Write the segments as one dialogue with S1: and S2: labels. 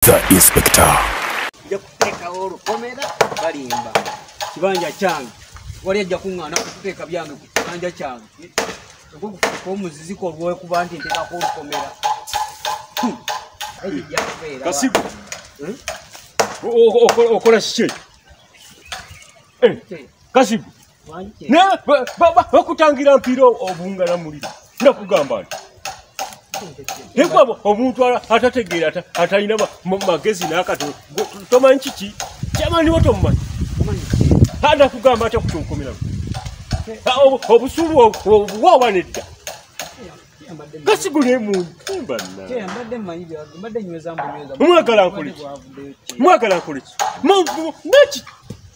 S1: the inspector nja kuteekawo
S2: olukomera balimba kibanja kyange wali ajja kuŋŋaana kuteeka byange ku kibanja kyange okukufuuka omuziziko olwekuba nti nteekako olukomera hmm. kasigo
S3: hmm? okola kiki eh, kasigo naye bakutangira mpiira obungala muliro nakugamba nti Hekwa omuntu atategeera atalina magezi n'akatono tomanyi kiki kyamani wo tomumanyi hada kugamba atya kukyonkomeramu obusuulu obwawa nedda kasigule muntumbanamwagala nkoleki mwagala nkoleki naki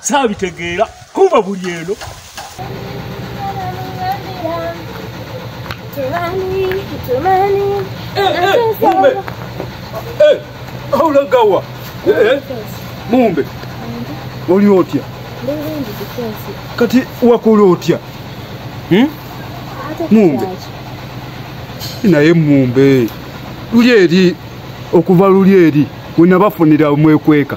S3: saabitegeera kuba buli eno aulagawa mumbe oli otya kati wakola otya hmm? mumbe naye mumbe luli eri okuva luli eri wenabafunira omwekweka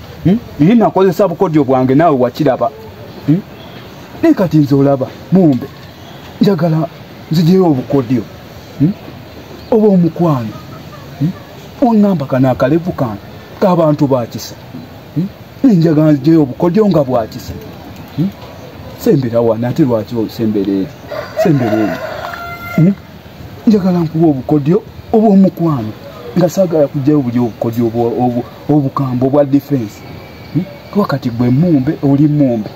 S3: Hmm? Naye nakozesa bukodyo bwange naawe wakiraba. Hmm? Naye kati nze olaba mumbe njagala nzijeyo obukodyo hmm? oba omukwano ongamba kano akalevu kange k'abantu bakisa naye njagala nzijeyo obukodyo nga bwakisa sembera wano ate lwaki osembera eri sembera eri hmm? njagala nkuba obukodyo obwomukwano nga sagala kujjayo buli obukodyo obukambo bwa defense hmm? wakati gwe mumbe oli mumbe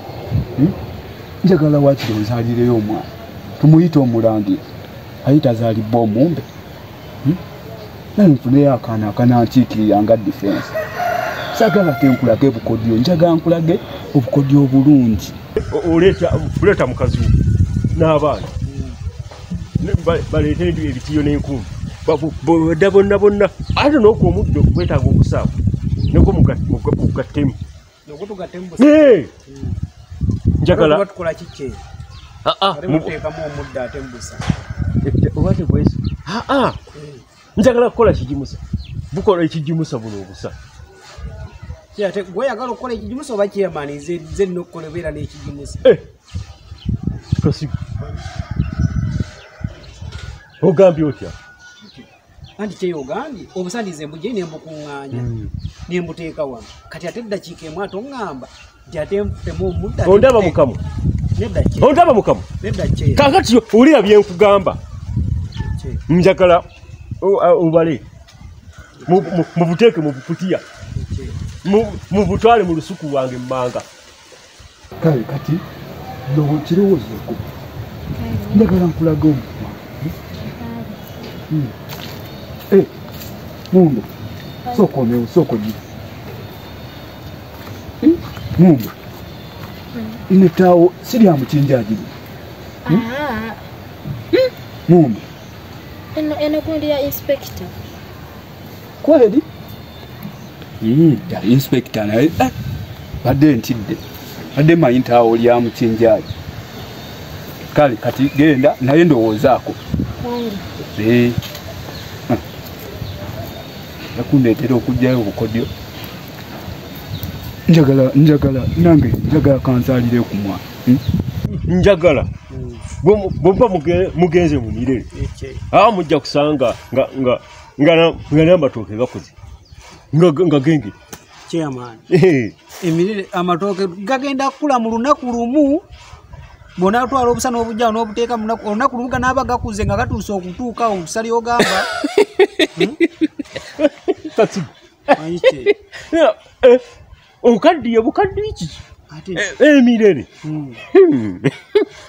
S3: hmm? njagala wakiri ozalireyo omwana tumuyita omulangira ayita azalibwa omumbe hmm? naye nfuneyo akaana akanankiikirira nga defense sagala tenkulage bukodyo njaga nkulage obukodyo obulungi oleeta mukazi wo n'abaana baleeta ebitiyo n'enkumbi boda bonna bonna ate noku omuddo gwetaaga okusaawa neko mugattemu njagala
S2: oba
S3: tegwesi aa njagala kukola kigimusa bukola ekigimusa buno obusa
S2: ate gweyagala okukola ekigimusa oba chairman zenna okukola obeera n'ekigimusa eh,
S3: tosiga ogambye otya
S2: anti kyeyogambye obusandize mbugye nembukuŋŋanya hmm. nembuteeka wano kati ate eddakiika emu ate oŋŋamba ondaba
S3: mukama ondaba mukama kakati olira byenkugamba njagala obale mubuteeke mubukutiya mubutwale mu lusuku lwange mumanga kale kati nokirowoozeeko njagala nkulaga omukwa hmm. eh, mundo sooka omewo sooka ogira Hmm? Mumba. Ine tawo siri amuchinja ajiri. Hmm? Ah. Hmm? Mumba. Eno
S4: eno kundi ya inspector.
S3: Kweli? Hmm, ya inspector na. Eh. Bade ntide. Bade mayinta awo ya amuchinja ajiri. Kali kati genda naye ndowoozaako. Kweli. Eh.
S1: nakundeetera okugyayo obukodyo njagala njagala nange njagala kansalire kumwa hmm? njagala
S3: bwemba mugenze mu mirere aa mujja kusanga nga namatooke gakoze nga gengere chairman
S2: emirere amatooke gagenda kukula mu lunaku lumu bwonatwala obusa n'obujja n'obuteeka olunaku lumu ganaaba gakuze nga gatuuse okutuuka okusali ogamba hmm?
S3: eh, okaddiye bukaddiye kiki eh, emirere hmm. hmm.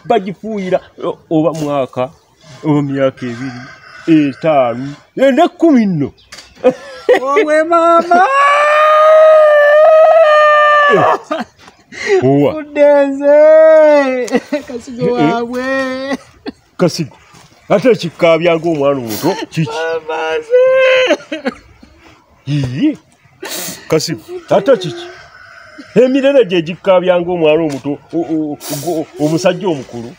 S3: bagifuuyira oba mwaka oba myaka ebiri etaano enda kkumi nno owe
S2: maama owa uddenze kasigo Eh, eh. waabwe
S3: kasigo ate ekikkaabya ng'omwana omuto kiki amaze Yii. kasimu ate kiki emirere gye gikkabyanga omwana omuto omusajja omukulu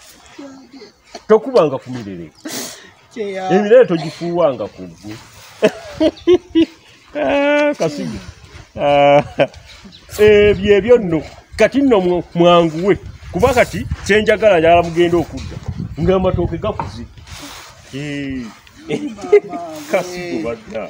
S3: tokubanga ku mirere emirere togifuuwanga ku ggwe ah, kasimu ah, ebyo ebyo nno kati nno mwanguwe kuba kati kyenjagala njagala mugenda okudda ngamatooke gakuze eh. kasimu badda